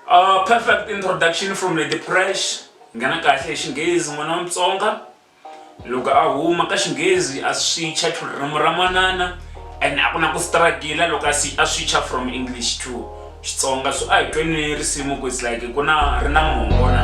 Uh, perfect introduction from Lady Fresh nghena kahle hi xinghezi n'wana wa mutsonga loko a huma ka xinghezi a swicha to ririmi ra manana and a ku na ku struggle loko a swicha from english to xitsonga so a hi tweni risimu ku it's like ku na ri na mongo na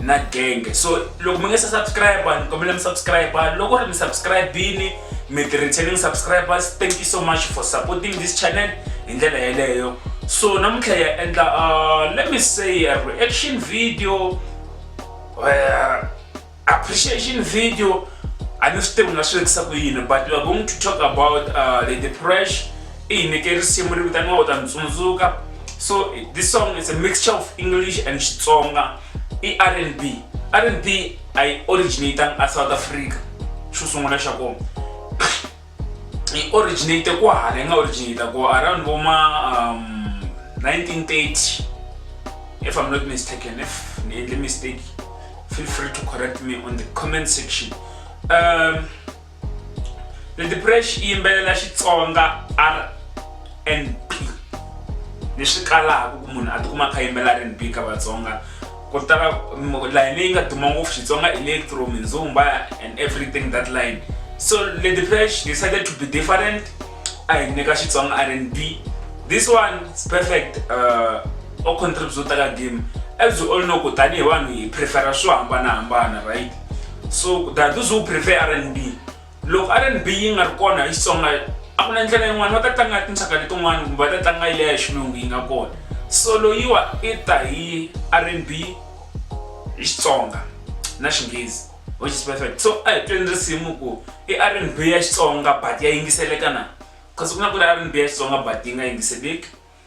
na genge so loko mi nge se subscribe ni kombela mi subscribe loko ri mi subscribini mi tirhitheni mi subscribers thank you so much for supporting this channel hi ndlela yeleyo so namuntlha ya endla uh, let me say a reaction video uh, appreciation video a ni swi tivi nga swi vekisa ku yini but we are going to talk about uh, the depression i hi nyike risimu ri vitaniwa u ta ni tsundzuka so this song is a mixture of english and xitsonga i r n b r n b a yi originatang a south africa xo sungula xa kona yi originate ku hala yi nga originate ku around vo ma um, 1930 if i'm not mistaken if ni endle mistake feel free to correct me on the comment section um, Lady Presh i yimbelela Xitsonga R&B ni swi kalaka ku munhu a tikuma kha yimbelela R&B ka Vatsonga ku tala layeni leyi nga duma ngopfu Xitsonga electro mindzumba and everything that line so Lady Presh decided to be different a hi nyika Xitsonga R&B this one is perfect uh, o contribute ka game as you all know ku tanihi vanhu hi prefera swo hambanahambana right so kutani those who prefer r and b loko r and b yi nga ri kona hi xitsonga a ku na ndlela yin'wana va ta tlanga tinxaka letin'wana kumbe va ta tlanga yi leya xilungu yi nga kona so loyiwa i ta hi r and b hi xitsonga na xinghezi which is perfect so a hi tweni risimu ku i r and b ya xitsonga but ya yingiseleka na kasi ku na ku ri r and b ya xitsonga but yi nga yingiseleki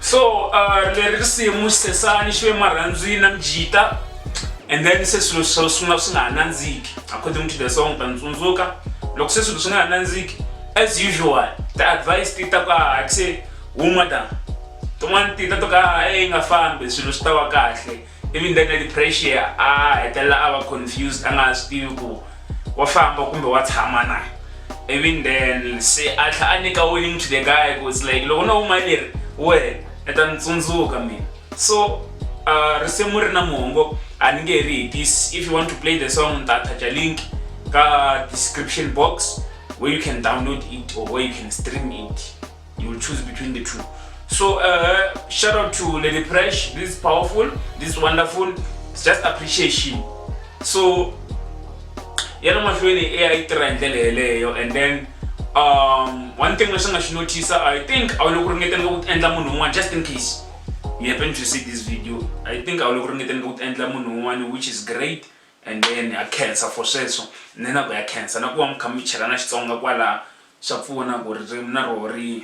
so uh, leri risimu sesani xi ve marhandzwini na mjita and then se swilo swo sungula swi nga ha nandziki according to the song ta ntsundzuka loko se swilo swi nga ha nandziki as usual the advice ti ta ka ha se huma ta tin'wana ti ta to ka e yi nga fambi swilo swi ta wa kahle ivi ndzeni leti pressure a hetelela a va confused a nga ha swi tivi ku wa famba kumbe wa tshama na ivi ndzeni se a tlha a nyika warning to the guy ku it's like loko no huma leri wehe i ta ni tsundzuka mina so uh, risimu ri na muhongo a ni nge ri hi this if you want to play the song ni ta attach link ka description box where you can download it or where you can stream it you will choose between the two so uh, shout out to lady fresh this is powerful this is wonderful it's just appreciation so yana mahlweni e a yi tirha hi ndlela yeleyo and then um one thing leswi nga xi notisa i think a wu le ku ringeteni ka ku endla munhu un'wana just in case you happen to see this video i think a wu le ku ringeteni ka ku endla munhu un'wana which is great and then a cancer for sweswo ni na ku ya cancer na ku va mi kha mi chelana xitsonga kwalaha Swa pfuna ku ririmi na roho ri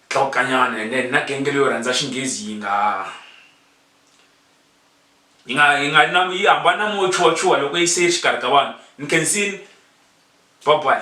tlakukanyana and then na genge leyo rhandza xinghezi yi nga yi nga yi nga na yi hambana na moya wo chuha chuha loko yi se yi ri xikarhi ka vanhu ni khensini bye bye.